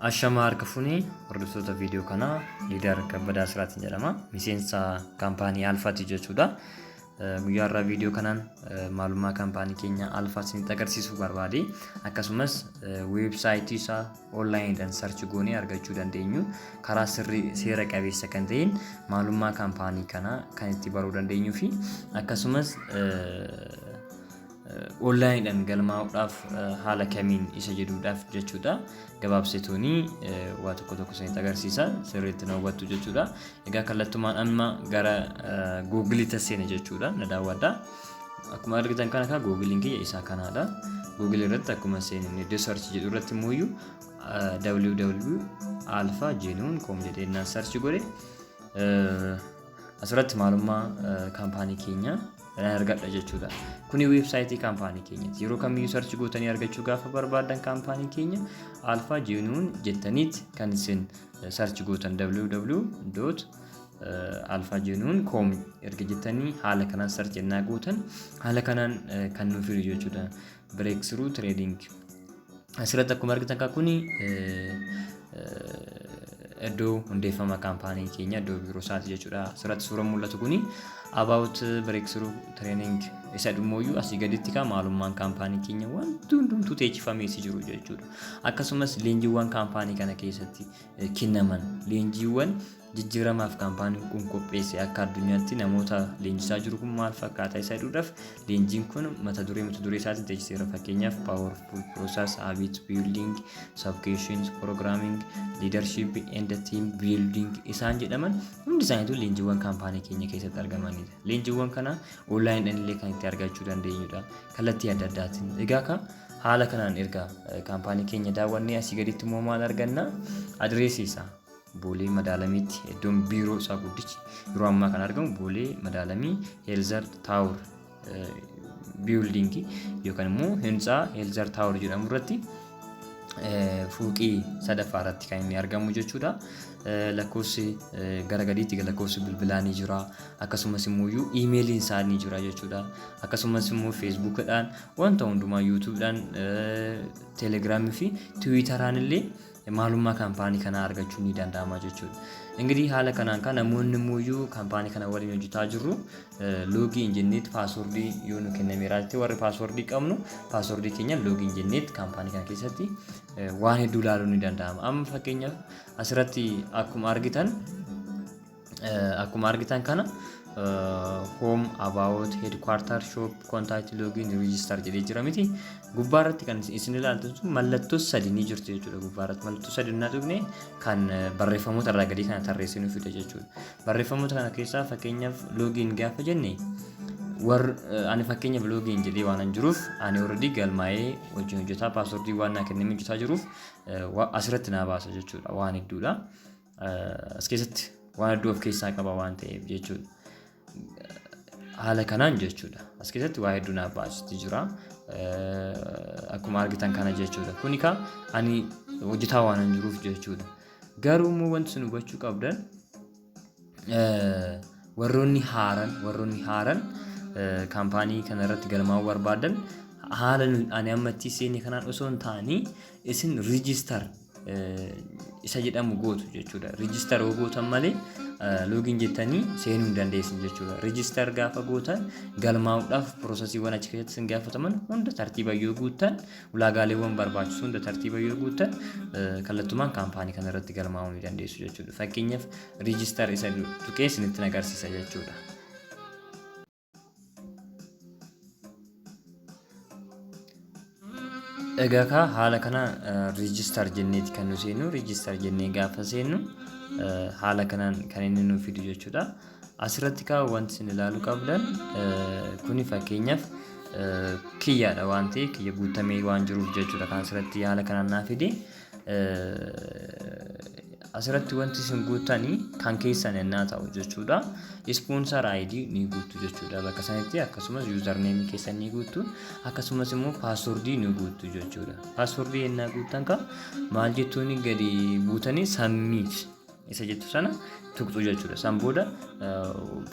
Ashamaa harka fuuni hordoftoota viidiyoo kanaa Liidar Kabbadaa Siraatiin jedhama. Miseensa kaampaanii Alfaati jechuudha. Guyyaa irraa viidiyoo kanaan maalummaa kaampaanii keenya Alfaa isinitti agarsiisuu barbaade. Akkasumas weebsaayitii isaa onlaayiniidhaan sarchi goonee argachuu dandeenyu karaa sirrii seera qabeessa kan ta'een maalummaa kaampaanii kanaa kan itti baruu dandeenyuu fi akkasumas Onlaayiniidhaan galmaa'uudhaaf haala kamiin isa jedhuudhaaf jechuudha. Gabaabsituuni waa tokko tokko isinitti agarsiisa sirriitti na hubattu jechuudha. Egaa kallattumaan amma gara Googiliitti seena jechuudha na daawwadha. Akkuma argitan kana kaa Googiliin kiyya isaa kanaadha. Googilii irratti akkuma seenan iddoo sarchi jedhu irratti immoo iyyuu www alpha genuine com jedhee naan sarchi godhe. Asirratti maalummaa kaampaanii keenya nan argadha jechuudha. Kuni weebsaayitii kaampaanii keenyati. Yeroo kamiyyuu sarchi gootanii argachuu gaafa barbaadan kaampaanii keenya alfaa jiinuun jettaniit kan isin sarchi gootan www alfaa jiinuun koom erga jettanii haala kanaan sarchi ennaa gootan haala kanaan kan nuuf fidu jechuudha. Breakthrough Trading. Asirratti akkuma argitan kan kuni iddoo hundeeffama kaampaanii keenya iddoo biiroo isaati jechuudha. Asirratti suuraan mul'atu kuni about breakthrough training isa dhumooyyuu asii gaditti kaa maalummaan kaampaanii keenya wanti hundumtuu teechifamee si jiru jechuudha. Akkasumas leenjiiwwan kaampaanii kana keessatti kennaman leenjiiwwan jijjiiramaaf kaampaaniin kun qopheesse akka addunyaatti namoota leenjisaa jiru kun maal fakkaata isa jedhuudhaaf leenjiin kun mata duree mata duree isaatiin teechiseera fakkeenyaaf powerful process habit building subcassions programming leadership and team building isaan jedhaman hundi isaaniitu leenjiiwwan kaampaanii keenya keessatti argamanidha leenjiiwwan kana online illee kan itti argachuu dandeenyudha kallattii adda addaatiin egaa ka haala kanaan erga kaampaanii keenya daawwannee asii gaditti immoo maal arganna adireesii isaa Boolee Madaalamiitti iddoon biiroo isaa guddichi yeroo ammaa kan argamu Boolee Madaalamii Heelzar Taawur biildingii yookaan immoo hintsaa Heelzar Taawur jedhamu irratti fuuqii sadaffaa irratti kan inni argamu jechuudha. Lakkoofsi gara gadiitti lakkoofsi bilbilaa ni jira. Akkasumas immoo iyyuu iimeeliin isaa ni jira jechuudha. Akkasumas immoo feesbuukidhaan wanta hundumaa yuutuubdhaan teelegiraamii fi tiwiitaraan illee maalummaa kaampaanii kanaa argachuun ni danda'ama jechuudha. Ingirii haala kanaan kan namoonni muuyyuu kaampaanii kana waliin hojjetaa jirru loogii hin jenneetti paaswordii yoo nu kennameera jettee warri paaswordii qabnu paaswordii keenya loogii hin jenneetti kaampaanii kana keessatti waan hedduu ilaaluun ni danda'ama. Amma fakkeenyaaf asirratti akkuma argitan Akkuma argitan kana home about headquarter shop contact login register jedhee jira miti gubbaa irratti kan isin ilaaltan sun mallattoo sadi ni jirti jechuudha gubbaa irratti mallattoo sadi naa tuqne kan barreeffamoota irraa gadii kana tarreessee nu fida jechuudha barreeffamoota kana keessaa fakkeenyaaf login gaafa jenne war ani fakkeenyaaf login jedhee waan hin jiruuf ani already galmaa'ee wajjin hojjetaa paaswordii waan naa kenname hojjetaa jiruuf asirratti naa baasa jechuudha waan hedduudha. eh, as keessatti waan hedduu of keessaa qaba waan ta'eef jechuudha. Haala kanaan jechuudha. As keessatti waa hedduu naaf baasutti jira. Eh, Akkuma argitan kana jechuudha. Kuni kaa ani hojjetaa waan hin jiruuf jechuudha. Garuu immoo wanti isin hubachuu qabdan eh, warroonni haaran warroonni haaran eh, kaampaanii kana irratti galmaa'uu barbaadan haala nu- ani amma itti seenne kanaan osoo hin taane isin riijistar isa jedhamu gootu jechuudha. Riijistar yoo gootan malee loogiin jettanii seenuu hin dandeessan jechuudha. Riijistar gaafa gootan galmaa'uudhaaf piroosesiiwwan achi keessatti isin gaafataman hunda tartiiba yoo guuttan ulaagaaleewwan barbaachisu hunda tartiiba yoo guuttan kallattumaan kaampaanii kana irratti galmaa'uu ni dandeessu jechuudha. Fakkeenyaaf riijistar isa tuqee isinitti agarsiisa jechuudha. Egaa kaa haala kana riijistar jenneeti kan nu seennu riijistar jennee gaafa seennu eh, haala kanaan kan inni nu fidu jechuudha. Asirratti kaa wanti isin ilaalu qabdan eh, kuni fakkeenyaaf eh, kiyyaadha waan ta'e kiyya guutamee waan jiruuf jechuudha kan asirratti haala kanaan naa fide. asirratti wanti isin guuttanii kan keessan ennaa ta'u jechuudha. Ispoonsar ID ni guuttu jechuudha bakka sanitti akkasumas yuuzarneemi keessan ni guuttu akkasumas immoo paaswordii ni guuttu jechuudha. Paaswordii ennaa guuttan ka maal jettuuni gadi buutanii sammiiti. isa jettu sana tuqxu jechuudha. San booda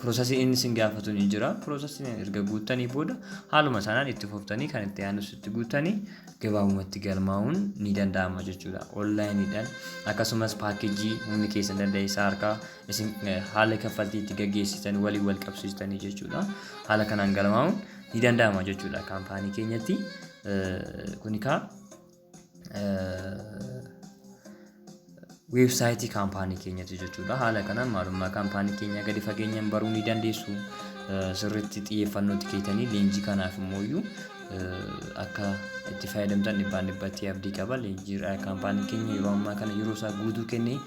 piroosasii inni isin gaafatu ni jira. Piroosasiin erga guuttanii booda haaluma sanaan itti fuftanii kan itti aanus itti guuttanii gabaabumatti galmaa'uun ni danda'ama jechuudha. Onlaayiniidhaan akkasumas paakeejii humni keessan danda'e isaa harkaa isin eh, haala kaffaltii itti gaggeessitan waliin wal qabsiistanii jechuudha. Haala kanaan galmaa'uun ni danda'ama jechuudha kaampaanii keenyatti. Eh, Kuni kaa weebsaayitii kaampaanii keenyatti jechuudha. Haala kanaan maalummaa kaampaanii keenyaa gadi fageenyaan baruu ni dandeessu. Eh, Sirriitti xiyyeeffannootti keetanii leenjii kanaaf immoo iyyuu eh, akka itti fayyadamtan dhibbaan dhibbatti abdii qaba. Leenjii eh, kaampaanii keenya yeroo ammaa kana yeroo isaa guutuu kennee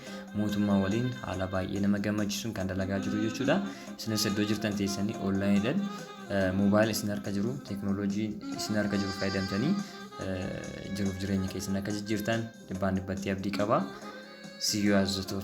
mootummaa waliin haala baay'ee nama gammachiisuun kan dalagaa jiru jechuudha. Isinis iddoo jirtan teessanii onlaayiniidhaan moobaayila isin harka jiru teeknooloojii isin harka jiru fayyadamtanii jiruuf jireenya keessan akka jijjiirtan dhibbaan dhibbatti abdii qaba. See you as the top.